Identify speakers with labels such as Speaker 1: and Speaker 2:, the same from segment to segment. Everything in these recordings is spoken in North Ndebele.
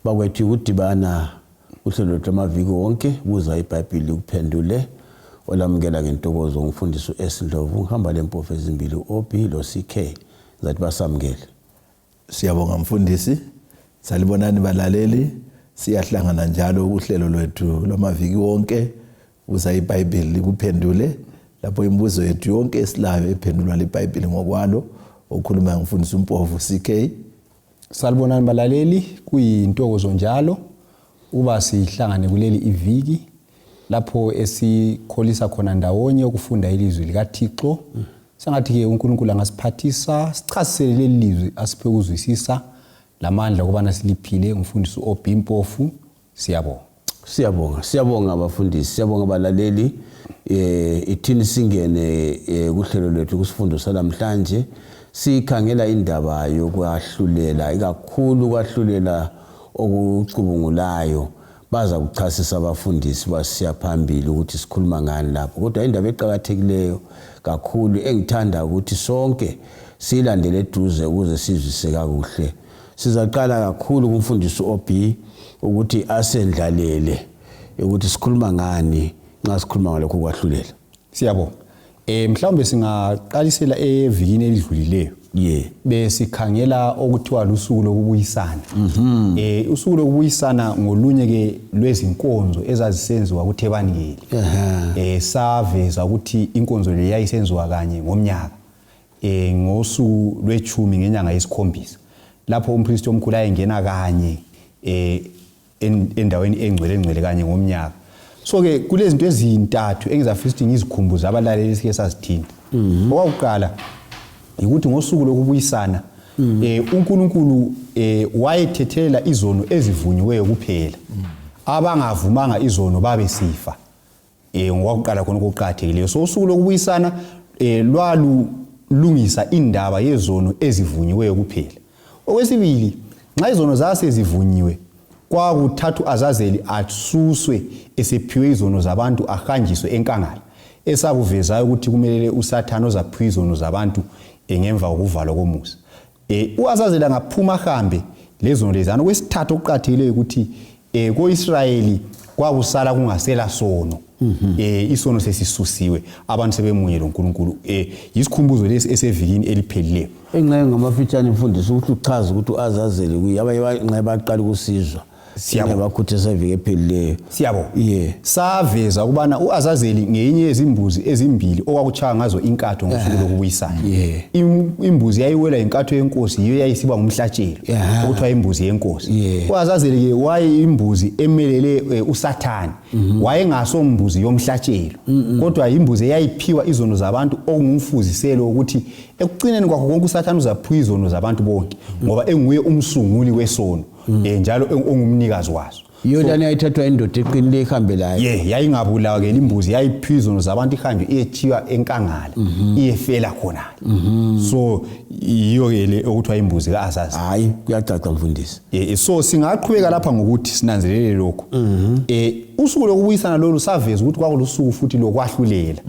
Speaker 1: bakwethu ukudibana uhlelo lwethu amaviki wonke buza ibhayibhili kuphendule olamukela ngentokozo ngumfundisi u-s ndlovu ngihamba le mpofu ezimbili u-ob lo-ck ngizathi basamukele Siyabonga
Speaker 2: mfundisi. Salibonani balaleli. Siyahlangana njalo uhlelo lwethu lwamaviki wonke uza iBhayibheli likuphendule lapho imibuzo yethu yonke esilayo ephendulwa liBhayibheli ngokwalo okhuluma ngifundisa umpofu CK. Salibonani
Speaker 3: balaleli kuyintokozo njalo uba sihlangane kuleli iviki lapho esikholisa khona ndawonye ukufunda ilizwi likathixo mm. sengathi ke uNkulunkulu angasiphathisa sichasisele leli lizwi asiphe ukuzwisisa lamandla okubana siliphile ngumfundisi uOb Mpofu siyabonga siyabonga
Speaker 1: siyabonga abafundisi siyabonga abalaleli eh ithini singene eh, kuhlelo lwethu kusifundo salamhlanje sikhangela indaba yokwahlulela ikakhulu kwahlulela okucubungulayo baza kuchasisa abafundisi basiya phambili ukuthi sikhuluma ngani lapho kodwa indaba eqakathekileyo kakhulu engithanda ukuthi sonke siyilandele eduze ukuze sizwise kakuhle sizaqala kakhulu kumfundisi ob ukuthi asendlalele ukuthi sikhuluma ngani nxa sikhuluma ngalokho kwahlulela siyabonga
Speaker 3: Eh mhlawumbe singaqalisela evikini elidlulileyo. Yeah. Besikhangela okuthiwa lusuku lokubuyisana. Mhm. Eh usuku lokubuyisana ngolunye ke lwezinkonzo ezazisenziwa kuThebangeli. Ehhe. Eh saveza ukuthi inkonzo le yayisenziwa kanye ngomnyaka. Eh ngosuku lwechumi ngenyanga yesikhombisa. Lapho umpristi omkhulu ayengena kanye eh endaweni engcwele ngcwele kanye ngomnyaka so ke kulezinto ezintathu engizafisa ukuthi ngizikhumbuze abalaleli sike sazithinta mhm. okwakuqala yikuthi ngosuku lokubuyisana mhm. eh uNkulunkulu eh wayethethelela izono ezivunyiweyo kuphela mhm. abangavumanga izono babe sifa eh ngokuqala khona okuqhathekileyo so usuku lokubuyisana eh lwalu lungisa indaba yezono ezivunyiweyo kuphela okwesibili nxa izono zasezivunyiwe kwakuthathu azazeli asuswe esephiwe izono zabantu ahanjiswe enkangala esakuvezayo ukuthi kumelele usathane ozaphiwa izono zabantu eh, ngemva kokuvalwa komusa E, U-Azazeli angaphuma ahambe lezono lezana. Okwesithathu okuqathileyo ukuthi e, ko-Israyeli kwakusala kungasela sono mm -hmm. e, isono sesisusiwe abantu sebemunye lonkulunkulu e, yisikhumbuzo lesi esevikini eliphelileyo enxenye ngamafitshane
Speaker 1: mfundisi ukuthi uchaze ukuthi u-azazeli kuye abanye nxenye baqala ukusizwa Siyabo. Ingabakhuthaza iviki ephelileyo. siyabo Yeah.
Speaker 3: saveza ukubana u-azazeli ngeyinye yezimbuzi ezimbili okwakutshaya ngazo inkatho ngosuku lokubuyisana Yeah. Im- imbuzi yayiwela inkatho yenkosi yiyo yayisiba ngumhlatshelo Yeah. okuthiwa imbuzi yenkosi Yeah. u-azazeli-ke wayeyimbuzi emelele eh, usathane Mm-hmm. wayengasombuzi yomhlatshelo kodwa yimbuzi eyayiphiwa izono zabantu okungumfuziselo wokuthi ekucineni kwakho konke usathane uzaphiwa izono zabantu bonke Mm-hmm. ngoba enguye umsunguli wesono mm. eh njalo ongumnikazi wazo yona niyayithathwa
Speaker 1: indoda eqinile ihambe layo ye yayingabulawa ke
Speaker 3: imbuzi yayiphizona zabantu ihambe iyethiwa enkangala mhm. iyefela khona mhm. so yiyo ke le okuthiwa imbuzi kaazazi hayi kuyacaca
Speaker 1: mfundisi eh, eh, so singaqhubeka
Speaker 3: lapha ngokuthi sinanzelele lokho mhm. eh usuku lokubuyisana lolu saveza ukuthi kwakulusuku futhi lokwahlulela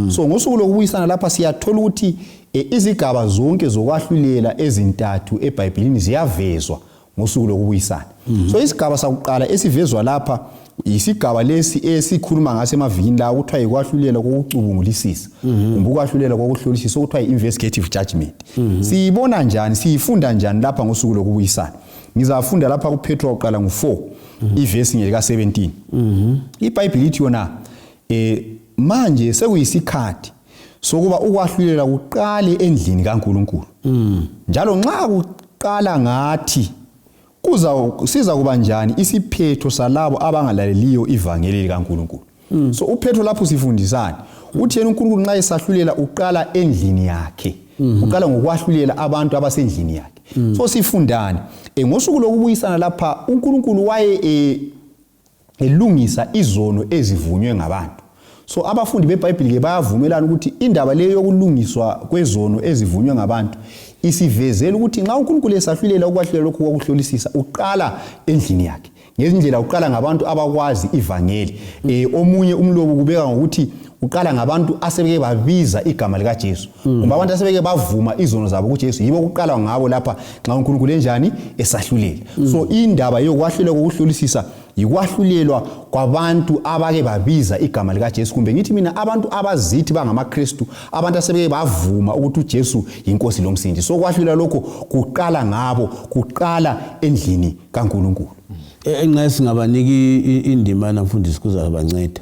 Speaker 3: so ngosuku lokubuyisana lapha siyathola ukuthi E, izigaba zonke zokwahlulela ezintathu ebhayibhilini ziyavezwa ngosuku lokubuyisana mm -hmm. so isigaba sakuqala esivezwa lapha yisigaba lesi esikhuluma ngaso emavikini lawo kuthiwa yikwahlulela kokucubungulisisa mhm. kumbe ukwahlulela kokuhlolisisa okuthiwa yi-investigative judgment mhm. siyibona njani siyifunda njani lapha ngosuku lokubuyisana ngizafunda lapha kuphethwa kuqala ngu-4 mhm. ivesi ngelika-17 ibhayibhili ithi yona um manje sekuyisikhathi sokuba ukwahlulela kuqale endlini kaNkulunkulu mm. njalo nxa kuqala ngathi kuza siza kuba njani isiphetho salabo abangalaleliyo ivangeli likaNkulunkulu mm. so uphetho lapho sifundisani uthi yena uNkulunkulu nxa esahlulela uqala endlini yakhe mm-hmm. uqala ngokwahlulela abantu abasendlini yakhe mm. so sifundani e, ngosuku lokubuyisana lapha uNkulunkulu waye e, elungisa izono ezivunywe ngabantu so abafundi bebhayibhili ke bayavumelana ukuthi indaba leyo yokulungiswa kwezono ezivunywe ngabantu isivezela ukuthi nxa unkulunkulu esahlulela ukwahlulela lokhu kwakuhlolisisa uqala endlini yakhe ngezindlela uqala ngabantu abakwazi ivangeli um omunye umlobo kubeka ngokuthi uqala ngabantu asebeke babiza igama likaJesu mm. kumbe abantu asebeke bavuma izono zabo kuJesu yibo kuqalwa ngabo lapha nxa uNkulunkulu enjani esahlulela mm. so indaba yokwahluleka kokuhlolisisa yikwahlulelwa kwabantu abake babiza igama likaJesu kumbe ngithi mina abantu abazithi bangamaKristu abantu asebeke bavuma ukuthi uJesu yinkosi lomsindi so kwahlulelwa lokho kuqala ngabo kuqala endlini kaNkulunkulu mm. enxa
Speaker 1: singabaniki indima namfundisi kuzabanceda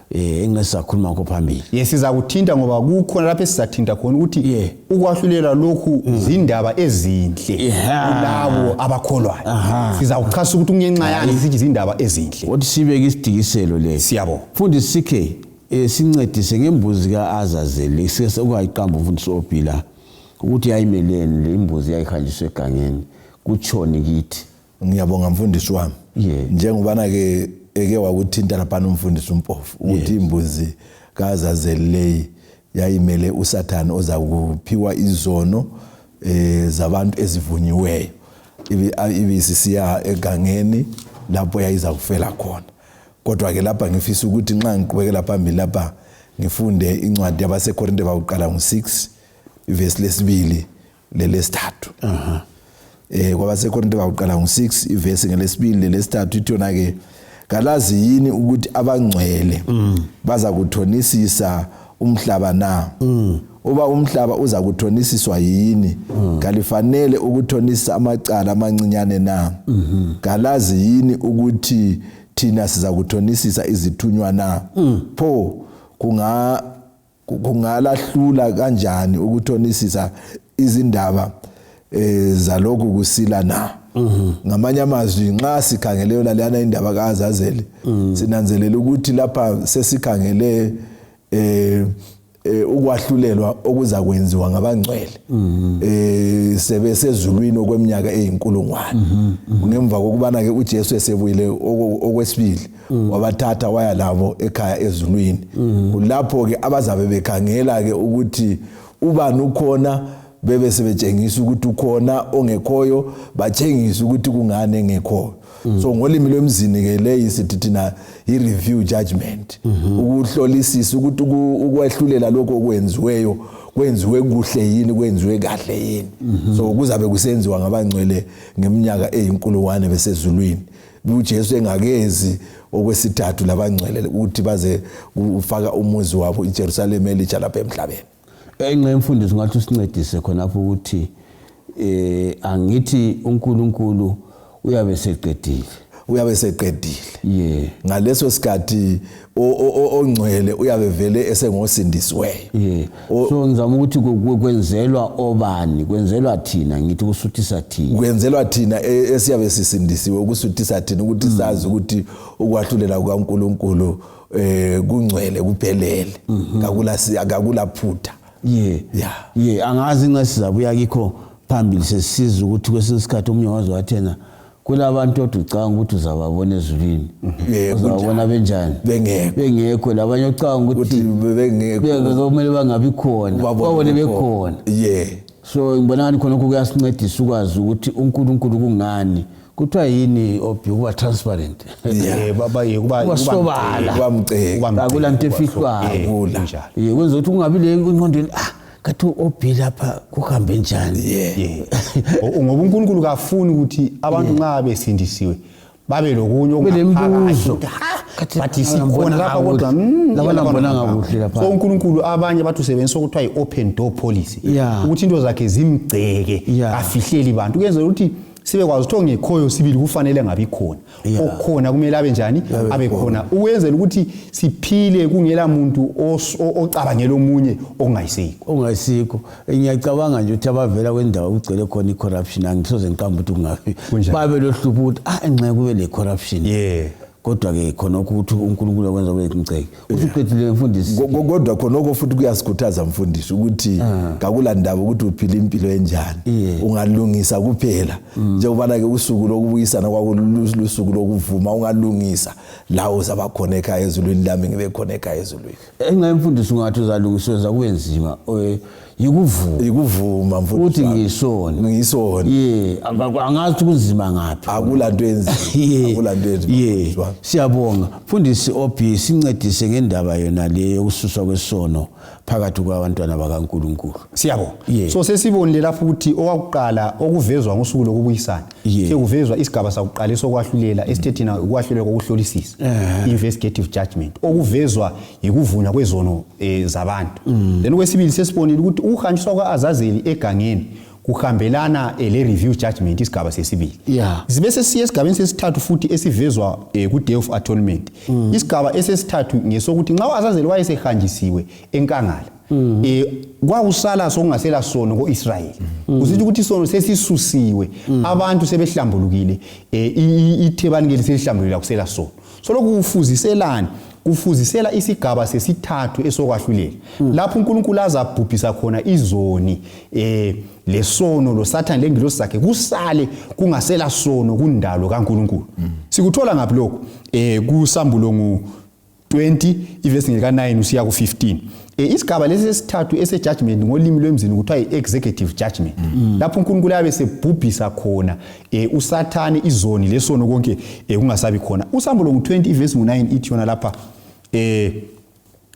Speaker 1: eh engisakhuluma ngakho phambili ye sizakuthinta ngoba
Speaker 3: kukhona lapho esizathinta khona ukuthi yeah. ukwahlulela lokhu mm. zindaba ezinhle yeah. labo abakholwayo sizawuchasa ukuthi kungenxa yani sithi zindaba ezinhle kodwa sibeke isidikiselo
Speaker 1: le siyabo fundi sikhe eh, sincedise ngembuzi ka-azazeli ungayiqamba umfundisi obhila ukuthi yayimeleni le imbuzi yayihanjiswa egangeni kutshoni kithi ngiyabonga mfundisi
Speaker 2: wami yeah. njengobana ke eke wakuthinta laphana umfundisi umpofu ukuthi yes. imbuzi kazazeleyi yayimele usathane oza kuphiwa izono eh zabantu ezivunyiweyo ibisisiya egangeni lapho yayiza kufela khona kodwa ke lapha ngifisa ukuthi nxa ngiqhubekela phambili lapha ngifunde incwadi yabasekorinte bakuqala ngo-6 ivesi lesibili lelesithathu uh -huh. eh kwabasekorinte bakuqala ngo-6 ivesi ngelesibili lelesithathu ithi yona-ke kalazi yini ukuthi abangcwele mm. baza kuthonisisa umhlaba na mm. uba umhlaba uza kuthonisiswa yini mm. kalifanele ukuthonisisa amacala amancinyane na mm -hmm. kalazi yini ukuthi thina siza kuthonisisa izithunywa na mm. pho kunga kungalahlula kanjani ukuthonisisa izindaba eh zalokhu kusila na mhm. ngamanye amazwi nxa sikhangele yona leyana indaba kaAzazeli mhm. sinanzelela ukuthi lapha sesikhangele eh, eh ukwahlulelwa okuza kwenziwa ngabangcwele mhm. eh sebe sezulwini okweminyaka eyinkulungwane ngemva kokubana ke uJesu esebuyile okwesibili mm. wabathatha waya labo ekhaya ezulwini mm. kulapho ke abazabe bekhangela ke ukuthi ubani ukhona bebe sebetshengisa ukuthi ukhona ongekhoyo batshengisa ukuthi kungani engekhoyo mm. so ngolimi lwemzini ke leyi sithi thina i-review judgment mm-hmm. ukuhlolisisa ukuthi ukwehlulela lokho okwenziweyo kwenziwe kuhle yini kwenziwe kahle yini mm-hmm. so kuzabe kusenziwa ngabangcwele ngeminyaka eyinkulungwane besezulwini uJesu engakezi okwesithathu labangcwele ukuthi baze ufaka umuzi wabo iJerusalem elitsha lapha emhlabeni enxe imfundiso
Speaker 1: ngathi usincedise khonapho ukuthi eh angithi uNkulunkulu uyabe seqedile uyabe seqedile yeah ngaleso sikhathi ongcwele uyabe vele esengosindisiweyo yeah. so ngizama ukuthi kwenzelwa obani kwenzelwa thina ngithi kusuthisa thina kwenzelwa thina e,
Speaker 2: esiyabe sisindisiwe ukusuthisa thina ukuthi mm. sazi ukuthi ukwahlulela kukaNkuluNkulu eh kungcwele kuphelele mhm. kakula kakula phutha yeah yeah
Speaker 1: yeah angazi nxa sizabuya kikho phambili sesiza ukuthi kwesinye isikhathi omunye wazi wathena kulabantu othi ucanga ukuthi uzababona ezulwini mhm. uzababona benjani bengekho labanye ocanga ukuthi kumele bangabi khona babone bekhona so ngibona ngani khonokho kuyasincedisa ukwazi ukuthi unkulunkulu kungani kuthiwa yini obhi ukuba transparent basobala akula nto efihlwayo kwenza ukuthi kungabi le enqondweni ah kathi obi lapha kuhambe njani yeah. yeah.
Speaker 3: ngoba unkulunkulu kafuni ukuthi abantu nxa yeah. besindisiwe babe lokunye okungaphakathi
Speaker 1: but
Speaker 3: sikhona lapha kodwa hmm,
Speaker 1: so unkulunkulu abanye
Speaker 3: bathi usebenzisa okuthiwa yi-open door policy ukuthi into zakhe zimgceke afihleli bantu kuyenzela ukuthi sibekwazi ukuthi ongekhoyo sibili kufanele ngabi khona yeah. okhona kumele abe njani abe khona ukwenzela ukuthi siphile kungela muntu ocabangela omunye ongayisikho ongayisikho eh, ngiyacabanga
Speaker 1: nje ukuthi abavela kwendawo kugcwele khona i-corruption angisoze ngiqamba ukuthi kungabi babe lohlupho ukuthi ah enxeke kube le-corruption yeah kodwa-ke khonokho ukuthi unkulunkulu akwenza kube ngiceke usuqedile mfundisi kodwa khonoko
Speaker 2: futhi kuyasikhuthaza mfundisi ukuthi ah. kakula ndaba ukuthi uphila impilo enjani ungalungisa kuphela mm. njengobana ke usuku lokubuyisana kwakululusuku lokuvuma ungalungisa lawo uzaba khona ekhaya ezulwini lami ngibe khona ekhaya ezulwini enxa mfundisi ungathi
Speaker 1: uzalungiseza kube nzima yikuvuma yikuvuma
Speaker 2: mfowethu uthi Sami. ngisoni
Speaker 1: ngisona ye anga- angazi ukuthi kunzima ngaphi akula nto enzima
Speaker 2: Ye, akula nto enzima ye. mfowethu wami. siyabonga
Speaker 1: mfundisi ob sincedise ngendaba yona le yokususwa kwesono phakathi kwabantwana bakankulunkulu siyabonga Yeah.
Speaker 3: so sesibonile lapho ukuthi okwakuqala okuvezwa ngosuku lokubuyisana Yeah. sekuvezwa isigaba sakuqala esokwahlulela esithethina ukwahlulela kokuhlolisisa investigative judgment okuvezwa yikuvunywa kwezono e, zabantu mm. then kwesibili sesibonile ukuthi ukuhanjiswa kwa-azazeli egangeni kuhambelana e, le-review judgment isigaba sesibili yeah. sibe sesiya esigabeni sesithathu futhi esivezwa e, ku-day of atonement mm. isigaba esesithathu ngesokuthi nxa u-azazeli wayesehanjisiwe enkangala mm. e, kwakusala sokungasela sono ko-israyeli mm. kusithi ukuthi isono sesisusiwe mm. abantu sebehlambulukile e, ithebani ke liselihlambulukile akusela sono Soloku kufuziselani? Kufuzisela isigaba sesithathu esokwahlulela. Hmm. Lapho uNkulunkulu azabhubhisa khona izoni eh lesono loSathane lengilosi zakhe kusale kungasela sono kundalo kaNkulunkulu. Hmm. Sikuthola ngaphi lokho? Eh kusambulo ngu 20 ivesi ngeka 9 usiya ku 15. Eh, isigaba lesi sesithathu esejudgment ngolimi lwemzini kuthiwa i-executive judgment mm. lapho unkulunkulu ayabe sebhubhisa khona e, usathane izoni lesono konke e, kungasabi khona usambulo ngu-20 ivesi ngu-9 ithi yona lapha e,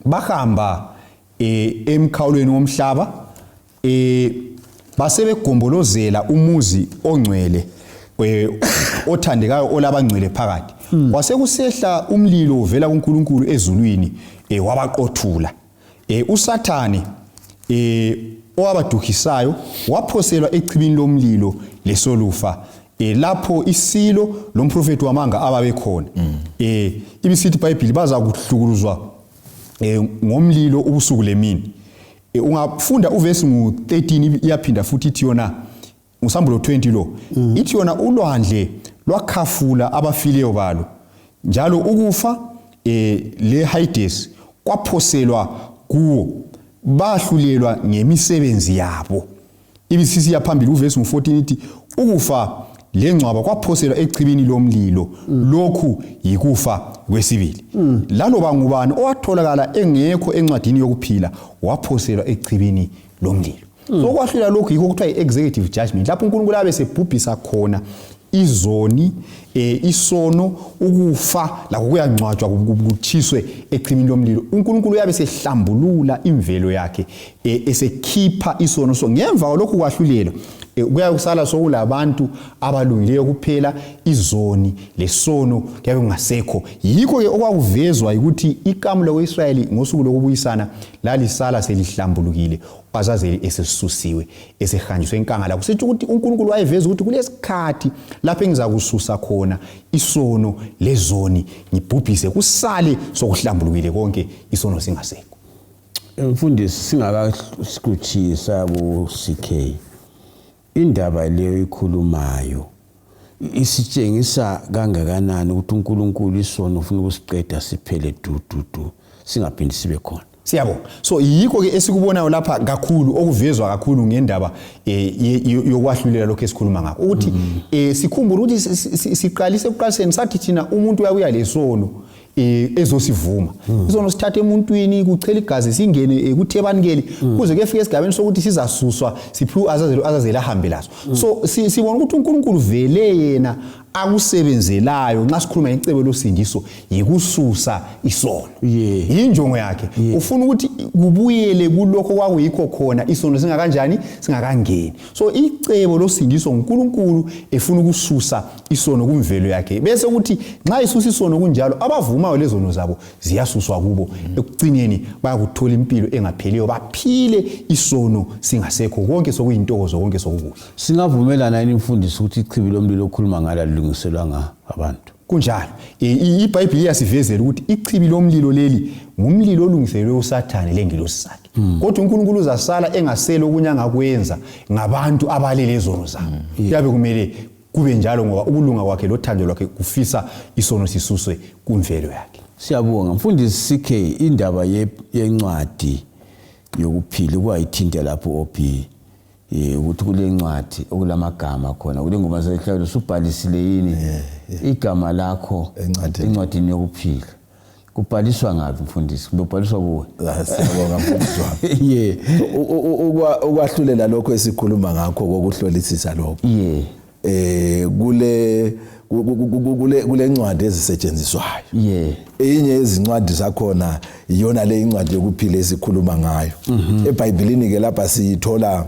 Speaker 3: bahamba e, emkhawulweni womhlaba e, basebegombolozela umuzi ongcwele e, othandekayo olabangcwele phakathi hmm. wasekusehla umlilo uvela kunkulunkulu ezulwini e, wabaqothula E, uSathane e, owabaduhisayo waphoselwa echibini lomlilo lesolufa e, lapho isilo lomprofethi wamanga ababekhona mm. e, ibisithi ibhayibhili bazakuhlukuluzwa e, ngomlilo ubusuku lemini e, ungafunda uvesi ngu-13 iyaphinda futhi ithi yona Usambulo 20 lo mm. ithi yona ulwandle lwakhafula abafileyo balo njalo ukufa eh, le Hades kwaphoselwa kuwo bahlulelwa ngemisebenzi yabo ibisisi yaphambili uvesi ngo-14 ithi ukufa lengcwaba kwaphoselwa echibini lomlilo mm. lokhu yikufa kwesibili mm. laloba ngubani owatholakala engekho encwadini yokuphila waphoselwa echibini lomlilo mm. sokwahlulela lokhu yikho kuthiwa yi-executive judgment lapho unkulunkulu abe sebhubhisa khona izoni eh isono ukufa lakho kuyangcwatshwa kutshiswe echimini lomlilo uNkulunkulu uyabe sehlambulula imvelo yakhe eh, esekhipha isono so ngemva lokhu kwahlulelo eh, kuyabe kusala sokulabantu abalungileyo kuphela izoni lesono kuyabe kungasekho yikho ke okwakuvezwa ukuthi ikamu lokuyisrayeli ngosuku lokubuyisana lalisala selihlambulukile Azazeli esisusiwe esehanjiswe enkangala kusithi ukuthi uNkulunkulu wayeveza ukuthi kulesikhathi lapho engizakususa khona isono lezoni ngibhubhise kusale sokuhlambulukile konke isono singasekho mfundisi
Speaker 1: singakasikhutshisa ku CK Indaba leyo ikhulumayo isitshengisa kangakanani ukuthi uNkulunkulu isono ufuna ukusiqeda siphele dududu singaphindi sibe khona siyabo so
Speaker 3: yikho ke esikubonayo lapha kakhulu okuvezwa kakhulu ngendaba eh, yokwahlulela lokho esikhuluma ngakho ukuthi mm. eh, sikhumbule ukuthi siqalise ekuqaliseni sathi thina umuntu uyakuya lesono eh, ezosivuma hmm. izono sithatha emuntwini kuchela igazi singene eh, kuthebanikeli hmm. kuze kuyefika esigabeni sokuthi sizasuswa siphiwe azazelo azazela ahambe laso hmm. so sibona ukuthi uNkulunkulu vele yena akusebenzelayo nxa sikhuluma ngecebo losindiso yikususa isono yeah. yinjongo yakhe yeah. ufuna ukuthi kubuyele kulokho kwakuyikho khona isono singakanjani singakangeni so icebo losindiso nguNkulunkulu efuna ukususa isono kumvelo yakhe bese kuthi nxa isusa isono kunjalo abavumayo lezono zabo ziyasuswa kubo ekucineni bayakuthola impilo engapheliyo baphile isono singasekho konke sokuyintokozo konke sokukuhle singavumelana yini
Speaker 1: imfundiso ukuthi ichibi lomlilo okhuluma ngalo alilungiselwanga abantu kunjalo e,
Speaker 3: ibhayibhile iyasivezela ukuthi ichibi lomlilo leli ngumlilo olungiselelwe usathane lengilosi sakhe hmm. kodwa unkulunkulu uzasala engasele okunye angakwenza ngabantu abalelezono zabo hmm. kuyabe kumele kube njalo ngoba ukulunga kwakhe lothando lwakhe kufisa isono sisuswe kumvelo yakhe siyabonga mfundisi
Speaker 1: ck indaba yencwadi yokuphila ukwayithinta lapho op eh, ukuthi kule ncwadi okulamagama khona kule ngoma zehlawulo subhalisile yini igama lakho encwadini yokuphila kubhaliswa ngaphi mfundisi kumbe ubhaliswa kuwe ah, siyabonga mfundisi
Speaker 2: wami ye ukwahlulela lokho esikhuluma ngakho kokuhlolisisa lokho ye eh kule kule kule ncwadi ezisetshenziswayo ye eyinye yezincwadi zakhona iyona le incwadi yokuphila esikhuluma ngayo mhm. ebhayibhilini ke lapha siyithola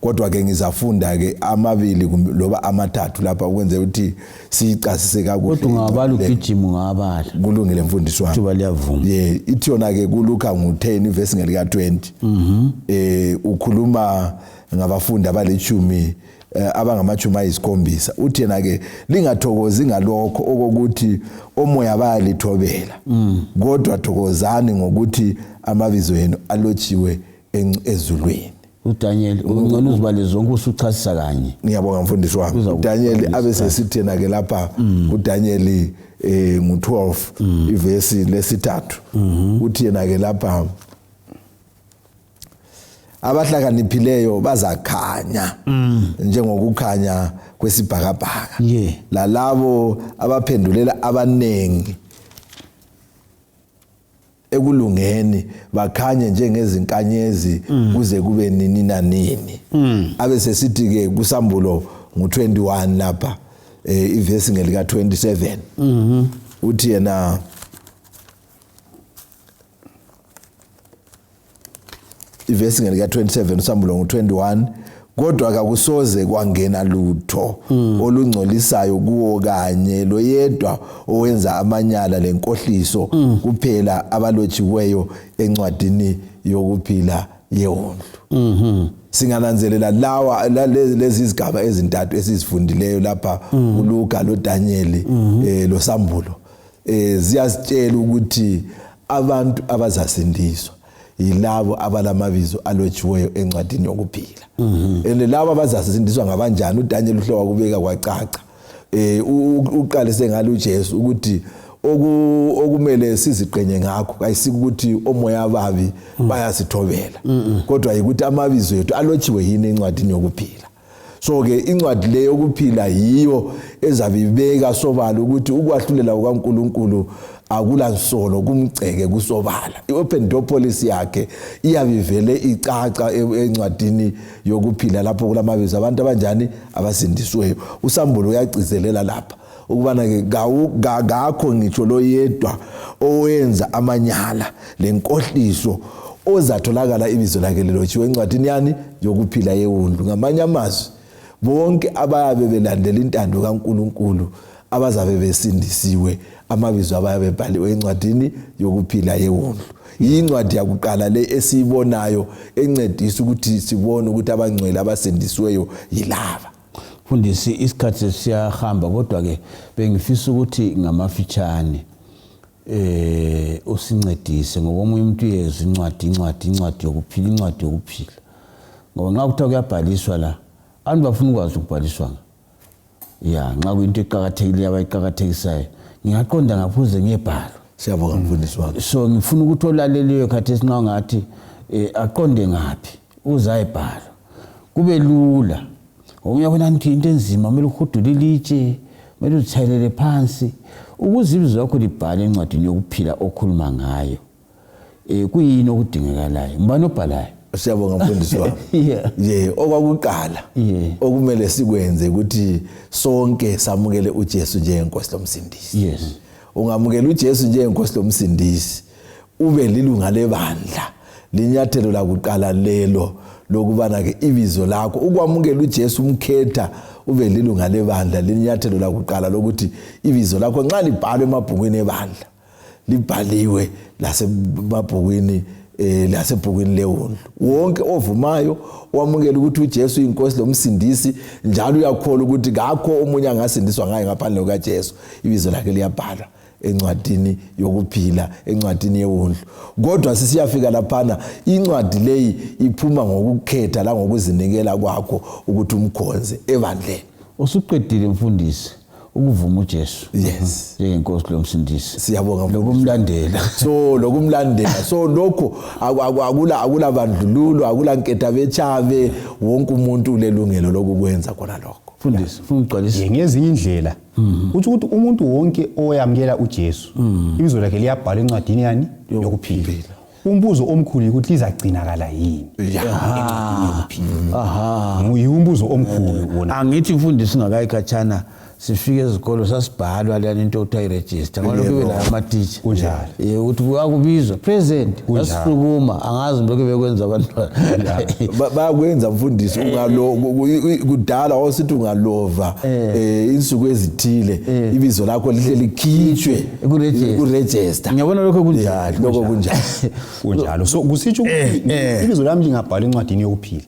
Speaker 2: kodwa ke ngizafunda ke amabili loba amathathu lapha ukwenze ukuthi siyicasise kakuhle kodwa ungabala ugijima
Speaker 1: ungabala kulungile mfundisi wami
Speaker 2: kuba liyavuma ye
Speaker 1: ithi yona ke
Speaker 2: kuluka ngu10 ivesi ngelika 20 mhm eh ukhuluma ngabafundi abalechumi eh, abangamachumi ayisikhombisa uthi yena ke lingathokozi ngalokho okokuthi omoya bayalithobela mm. kodwa thokozani ngokuthi amabizo yenu alotshiwe ezulwini uDaniel
Speaker 1: ungcono uzibale zonke usuchasisa kanye ngiyabonga mfundisi wami
Speaker 2: uDaniel abesesithi yena ke lapha mm. uDaniel eh ngu12 mm. ivesi lesithathu mm-hmm. uthi yena ke lapha abahlakaniphileyo bazakhanya mm. njengokukhanya kwesibhakabhaka yeah. lalabo abaphendulela abanengi ekulungeni bakhanye njengezinkanyezi mm. kuze kube nini nanini mm. abe sesithi ke kusambulo ngu21 lapha eh ivesi ngelika 27 mhm uthi yena ivesi ngelika 27 usambulo ngo 21 kodwa kakusoze kwangena lutho mm. olungcolisayo kuwo kanye loyedwa owenza amanyala lenkohliso mm. kuphela abalotshiweyo encwadini yokuphila yewondlu mm -hmm. singananzelela lawa lezi zigaba ezintathu esizifundileyo lapha mm. uLuka loDaniel mm -hmm. eh loSambulo eh ziyasitshela ukuthi abantu abazasindiswa yilabo abalamabizo alotshiweyo encwadini yokuphila mhm. and labo abazasindiswa ngabanjani uDaniel uhlowa kubeka kwacaca eh uqalise ngalo uJesu ukuthi okumele siziqenye ngakho kayisikuthi omoya ababi mm. bayasithobela kodwa yikuthi amabizo ethu alotshiwe yini encwadini yokuphila so ke incwadi le yokuphila yiyo ezabibeka sobala ukuthi ukwahlulela kukaNkuluNkulu akula nsolo kumgceke kusobala iopen door policy yakhe iyabivele icaca e-, encwadini yokuphila lapho kulamabizo abantu abanjani abasindisweyo usambulo uyagcizelela lapha ukubana ke kakho ngitsho loyedwa owenza amanyala lenkohliso ozatholakala ibizo lakhe lilotshiwe encwadini yani yokuphila yewundu ngamanye amazwi bonke abayabe belandela intando kaNkuluNkulu abazabe besindisiwe amabizo abayabe ebhaliwe encwadini yokuphila yewundu yincwadi yakuqala le esiyibonayo encedisa ukuthi sibone ukuthi abangcwele abasindisiweyo yilaba Mfundisi,
Speaker 1: isikhathi sesiyahamba kodwa ke bengifisa ukuthi ngamafitshane eh usincedise ngokomunye umuntu yezwa incwadi incwadi incwadi yokuphila incwadi yokuphila ngoba nxa kuthiwa kuyabhaliswa la abantu bafuna ukwazi ukubhaliswa ya nxa kuyinto eqakathekileyo abayiqakathekisayo ngingaqonda ngaphuze ngiyebhalwa siyabonga mfundisi
Speaker 2: wami so ngifuna ukuthi
Speaker 1: olaleliyo khathesi nxa ngathi um aqonde ngaphi uzayibhala kube lula omunye wabona ngithi into enzima kumele uhudule ilitshe kumele uzithayelele phansi ukuze ibizo lakho libhale encwadini yokuphila okhuluma ngayo um kuyini okudingekalayo ngubani obhalayo siyabonga mfundisi
Speaker 2: wami ye okwakuqala okumele sikwenze ukuthi sonke samukele ujesu njengenkosi lomsindisi yes ungamukela ujesu njengenkosi lomsindisi ube lilunga lebandla linyathelo lakuqala lelo lokubana ke ibizo lakho ukwamukela uJesu umkhetha ube lilunga lebandla linyathelo lakuqala lokuthi ibizo lakho nxa libhalwe emabhukwini ebandla libhaliwe lasemabhukwini eh lasebhukwini lewundlu wonke ovumayo wamukela ukuthi uJesu inkosi lomsindisi njalo uyakholwa ukuthi kakho omunye angasindiswa ngaye ngaphandle kukaJesu ibizo lakhe liyabhalwa encwadini yokuphila encwadini yewundlu kodwa sisiyafika laphana incwadi leyi iphuma ngokukhetha langokuzinikela kwakho ukuthi umkhonze ebandleni usuqedile
Speaker 1: mfundisi ukuvuma uJesu yes njengenkosi
Speaker 2: lomsindisi
Speaker 1: siyabonga lokumlandela so
Speaker 2: lokumlandela so lokho akula akula bandlululo akula nketha bechabe wonke umuntu ulelungelo lokukwenza khona lokho mfundisi ungigcwalise
Speaker 1: ngezinye indlela
Speaker 3: Mm. Uthi ukuthi umuntu wonke oyamkela uJesu mm. ibizo lakhe liyabhalwa encwadini yani yokuphila. Umbuzo omkhulu ukuthi lizagcinakala yini encwadini yokuphila. Aha. Nguye umbuzo omkhulu wona. Angithi mfundisi ngakayi
Speaker 1: khatshana sifike ezikolo sasibhalwa lento okuthiwa i-register. Ngalokho ibe la ama-teacher. Kunjalo. Eh, ukuthi
Speaker 3: wakubizwa
Speaker 1: present asukuma angazi lokho bekwenza abantwana bayakwenza
Speaker 2: mfundisi eh. ungaloko kudala wawusithi ungalova eh. eh insuku ezithile ibizo lakho lihle likhitshwe kuregister ngiyabona lokho
Speaker 1: kunjalo lokho kunjalo kunjalo
Speaker 3: so kusitsho ukuthi ibizo lami lingabhala encwadini yokuphila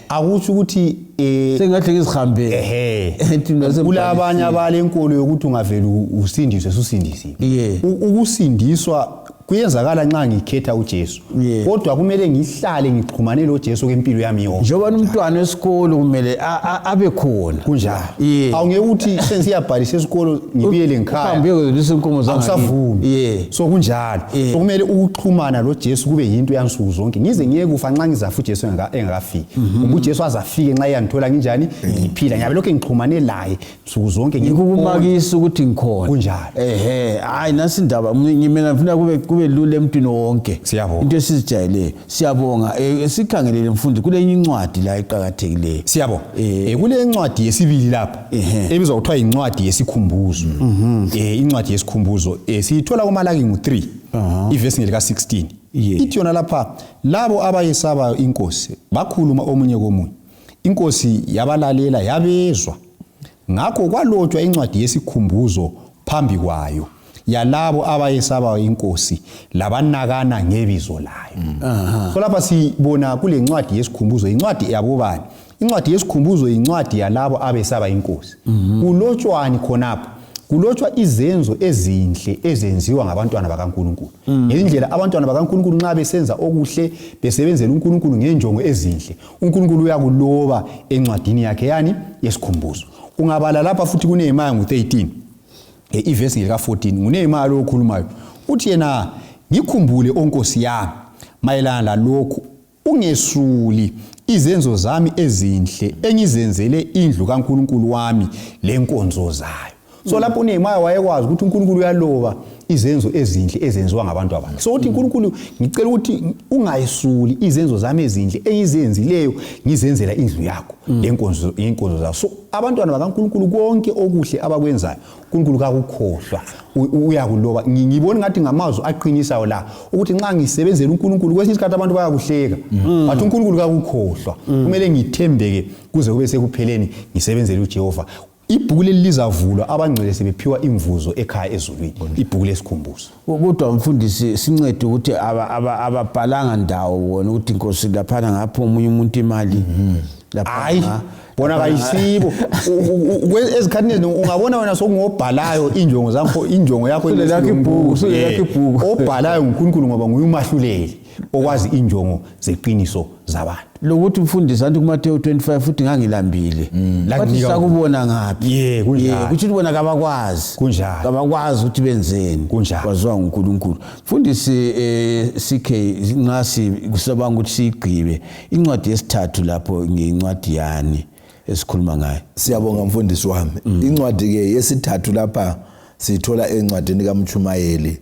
Speaker 3: akusho ukuthi eh, sengathi
Speaker 1: ngizihambele ehe kulabanye
Speaker 3: abalenkolo yokuthi ungavele usindiswe susindisiwe yeah. ukusindiswa kuyenzakala nxa ngikhetha uJesu yeah. kodwa kumele ngihlale ngixhumane loJesu kempilo yami yonke njengoba umntwana esikolo
Speaker 1: kumele abe khona kunjalo yeah.
Speaker 3: awungeke uthi sensiyabhalisa esikolo ngibuyele ngikhaya uhambe uyozisa inkomo zami
Speaker 1: akusavumi yeah. so
Speaker 3: kunjalo yeah. so kumele ukuxhumana loJesu kube yinto yansuku zonke ngize ngiyekufa nxa ngizafa uJesu engaka azafiki mhm. ngoba uJesu azafike nxa eyangithola nginjani mhm. ngiphila ngiyabe lokhu ngixhumane laye nsuku zonke ngikukumakisa ukuthi
Speaker 1: ngikhona kunjalo ehe
Speaker 3: hayi nasi
Speaker 1: indaba ngimela ngifuna kube kube lula emntwini wonke siyabonga into esizijayeleyo siyabonga eh, sikhangelele mfundi kule incwadi la iqhakathekileyo siyabonga eh. Eh,
Speaker 3: kule incwadi yesibili lapha ebizwa kuthiwa incwadi yesikhumbuzo mhm. eh incwadi yesikhumbuzo siyithola kumalaki ngu3 ivesi ngelika 16 Yeah. Ithi yona lapha labo abayesabayo inkosi bakhuluma omunye komunye. Inkosi yabalalela yabezwa. Ngakho kwalotshwa incwadi yesikhumbuzo phambi kwayo yalabo abayesabayo inkosi labanakana ngebizo layo. Mm. So lapha sibona kule ncwadi yesikhumbuzo incwadi yabobani incwadi yesikhumbuzo yincwadi yalabo abesaba inkosi mhm. kulotshwani khonapho kulotshwa izenzo ezinhle ezenziwa ngabantwana bakaNkuluNkulu mm. ngendlela abantwana bakaNkuluNkulu nxa besenza okuhle besebenzela uNkuluNkulu ngenjongo ezinhle uNkuluNkulu uyakuloba encwadini yakhe yani yesikhumbuzo ungabala lapha futhi kuneYemaya ngo-13 e, ivesi ngelika-14 nguneYemaya lo okhulumayo uthi yena ngikhumbule onkosi yami mayelana lalokhu Ungesuli izenzo zami ezinhle engizenzele indlu kaNkulunkulu wami lenkonzo zayo. So lapho uNehemiah wayekwazi ukuthi uNkulunkulu uyaloba izenzo ezinhle ezenziwa ngabantu abakhe. So uthi uNkulunkulu ngicela ukuthi ungayisuli izenzo zami ezinhle engizenzileyo ngizenzela indlu yakho mm. lenkonzo yenkonzo zakho. So abantwana bakaNkulunkulu konke okuhle abakwenzayo uNkulunkulu kakukhohlwa uyakuloba ngibona ngathi ngamazwi aqinisayo la ukuthi nxa ngisebenzela uNkulunkulu kwesinye isikhathi abantu bayakuhleka mm. bathi uNkulunkulu kakukhohlwa mm. kumele ngithembeke kuze kube sekupheleni ngisebenzele uJehova ibhuku leli lizavulwa abangcwele sebephiwa imvuzo ekhaya ezulwini ibhuku lesikhumbuzo kodwa mfundisi
Speaker 1: sincede ukuthi ababhalanga ndawo wona ukuthi nkosi laphana ngapha omunye umuntu imali mhm. hayi
Speaker 3: bona kayisibo ezikhathini eziningi ungabona wena sokungobhalayo injongo zakho injongo yakho obhalayo ngunkulunkulu ngoba nguye umahluleli okwazi injongo zeqiniso zabantu lokuthi mfundisi
Speaker 1: anti kuMateyu 25 futhi ngangilambile mm. bathi sakubona ngaphi ye kunjalo kuthi bona kabakwazi kunjalo kabakwazi
Speaker 3: ukuthi
Speaker 1: benzeni kunjalo kwaziwa uNkulunkulu mfundisi eh, CK nxa sikusabanga ukuthi sigqibe incwadi yesithathu lapho ngincwadi yani esikhuluma ngayo siyabonga mfundisi
Speaker 2: wami mm. incwadi ke yesithathu lapha sithola encwadini kaMchumayeli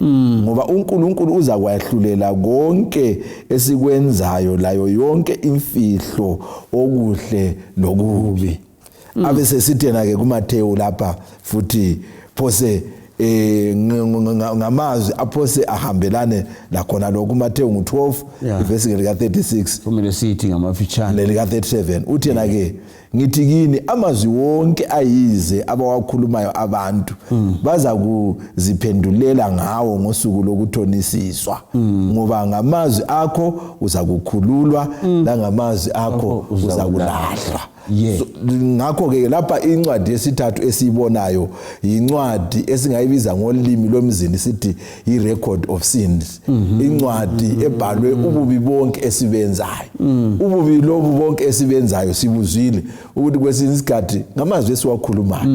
Speaker 2: Mm. ngoba uNkulunkulu uza kwahlulela konke esikwenzayo layo yonke imfihlo okuhle lokubi mm. abe sesithena ke kuMathewu lapha futhi phose eh ngamazwi aphose ahambelane lakhona lokhu Mathewu ngo12 ivesi lika 36 kumele sithi
Speaker 1: ngamafitshane lika 37
Speaker 2: uthena ke ngithi kini amazwi wonke ayize abawakhulumayo abantu mm. baza kuziphendulela ngawo ngosuku lokuthonisiswa mm. ngoba ngamazwi akho uza kukhululwa mm. langamazwi akho oh, oh, uza kulahlwa yeah. so, ngakho ke lapha incwadi yesithathu esiyibonayo yincwadi esingayibiza ngolimi lomzini sithi i-record of sins mhm. incwadi mhm. ebhalwe mhm. ububi bonke esibenzayo ububi lobu bonke esibenzayo sibuzwile ukuthi kwesinye isikhathi ngamazwi esiwakhulumayo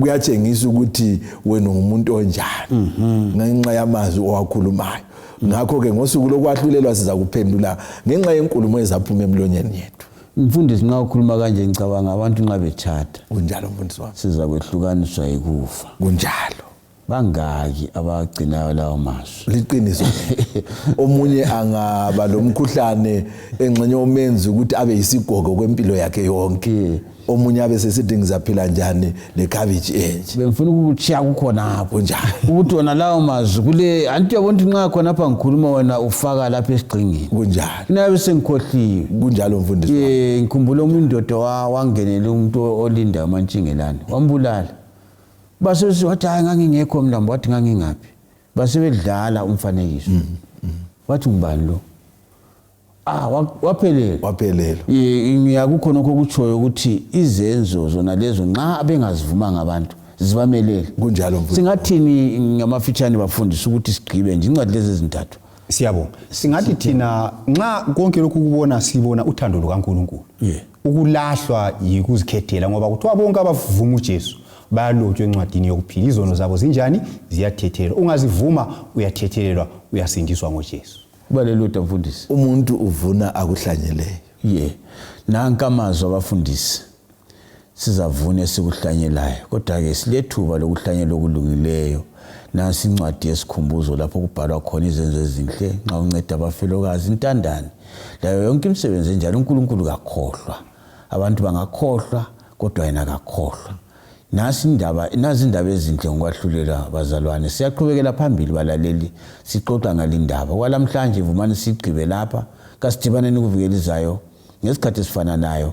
Speaker 2: kuyatshengisa ukuthi wena ungumuntu onjani ngenxa yamazwi owakhulumayo ngakho-ke ngosuku lokwahlulelwa siza kuphendula ngenxa yenkulumo ezaphuma emlonyeni yethu mfundisi nxa ukhuluma
Speaker 1: kanje ngicabanga abantu nxa betshata kunjalo mfundisi wami
Speaker 2: siza kwehlukaniswa
Speaker 1: yikufa kunjalo
Speaker 2: bangaki
Speaker 1: abagcinayo lawo mazwi liqiniso
Speaker 2: omunye angaba lomkhuhlane engxenye omenzi ukuthi abe yisigogo kwempilo yakhe yonke omunye abe sesithi ngizaphila njani nekhabitshi enje bengifuna ukutshiya
Speaker 1: kukhonapho njani ukuthi wona
Speaker 2: lawo
Speaker 1: mazwi kule anti uyabona ukuthi nxa khonapha ngikhuluma wena ufaka lapha esigxingini kunjani inabe
Speaker 2: sengikhohliwe
Speaker 1: kunjalo mfundisi um
Speaker 2: ngikhumbula omunye
Speaker 1: indoda wangenela umuntu olinda umantshingelane wambulala basebesithi wathi hayi ngangingekho mlambo wathi ngangingaphi basebedlala umfanekiso mm, mm. wathi ngubani lo ah waphelele waphelele ngiya kukhonokho okutshoyo ukuthi izenzo zona lezo nxa bengazivumanga abantu zibamelele kunjalo
Speaker 2: singathini
Speaker 3: ngamafitshane
Speaker 1: bafundisa ukuthi sigqibe nje incwadi lezi ezintathu siyabo
Speaker 3: singathi thina nxa konke lokhu kubona sibona uthando lukaNkulunkulu yeah. ukulahlwa yikuzikhethela ngoba kuthiwa bonke abavuma uJesu bayalotshwa encwadini yokuphila izono zabo zinjani ziyathethelelwa ungazivuma uyathethelelwa uyasindiswa ngoJesu kubalelodwa mfundisi
Speaker 1: umuntu uvuna
Speaker 2: akuhlanyeleyo ye yeah. nanka
Speaker 1: amazwi abafundisi sizavuna esikuhlanyelayo kodwa-ke silethuba lokuhlanyela okulungileyo nansi incwadi yesikhumbuzo lapho kubhalwa khona izenzo ezinhle nxa unceda abafelokazi intandane layo yonke imisebenzi enjalo unkulunkulu kakhohlwa abantu bangakhohlwa kodwa yena kakhohlwa nasi indaba nazi indaba ezinhle ngokwahlulela bazalwane siyaqhubekela phambili balaleli sixoxa ngalindaba kwalamhlanje vumani sigqibe lapha kasidibaneni kuvikelizayo ngesikhathi esifananayo